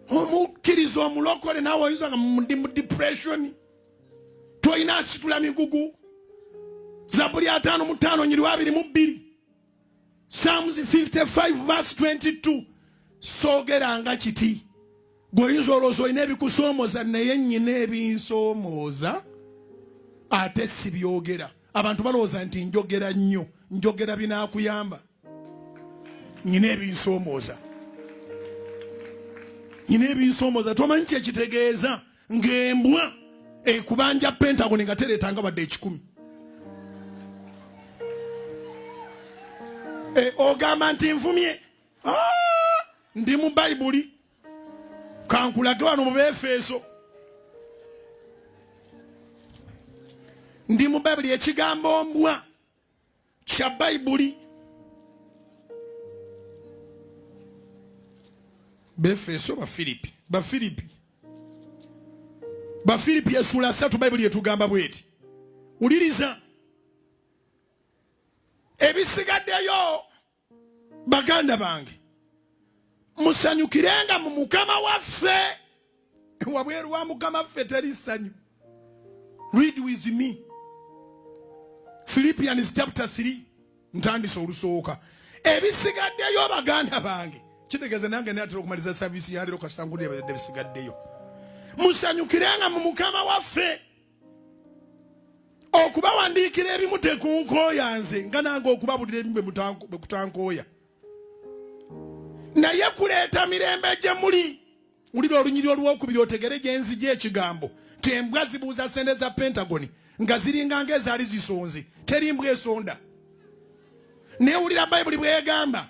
omukkiriza omulokole naawe oyinza nga ndi mu depression tolina asitula migugu zabuli ataano mu ttaano nyiriwa abiri mu bbiri psalms 55 vers 22 soogeranga kiti gwe oyinza olowooza olina ebikusoomoza naye nnyina ebinsomooza ate sibyogera abantu balowooza nti njogera nnyo njogera binakuyamba nyina ebinsomooza nyina ebinsomooza tomanyi kyekitegeeza ng'embwa ekubanja pentagoni nga tereetanga wadde ekikumi e, ogamba nti nvumye ah, ndi mu bayibuli kankulage wano mu befeeso ndi mu bayibuli ekigambo mbwa kya bayibuli befeso bafiripi bafiripi bafiripi esula satu bayibuli etugamba bweti wuliriza ebisigaddeyo baganda bange musanyukirenga mu mukama waffe wabweru wa mukama waffe teri ssanyu read with me philippians chapter 3 ntandise olusooka ebisigaddeyo baganda bange kitegeeza nange natera okumaliza saviisi yaleero kasita ngudebisigaddeyo musanyukirenga mu mukama waffe okubawandiikira ebimu tekunkooya nze nga nange okubabulira ebimu bwe kutankooya naye kuleeta mirembe gye muli wulira olunyiri olwokubiri otegere gye nzija ekigambo tembwa zibuuza sente za pentagoni nga ziringa ngaezaali zisonze teri mbwa esonda naye wulira bayibuli bwegamba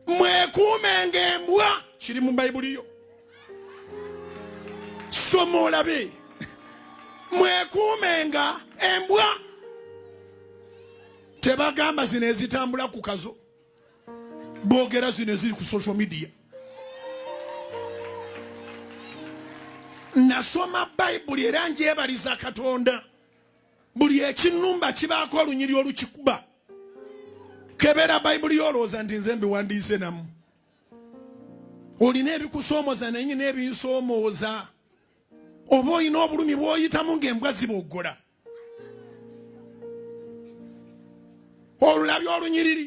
mwekuumenga embwa kiri mu bayibuli yo soma olabe mwekuumenga embwa tebagamba zino ezitambula ku kazo bogera zino eziri ku social media nasoma bayibuli era njebaliza katonda buli ekinnumba kibaako olunyiri olukikuba kebera bayibuli yolowooza nti nze mbiwandiise namu olina ebikusoomoza naye nyina ebinsomooza oba olina obulumi bwoyitamu ngaembwa ziboggola olulabya olunyiriri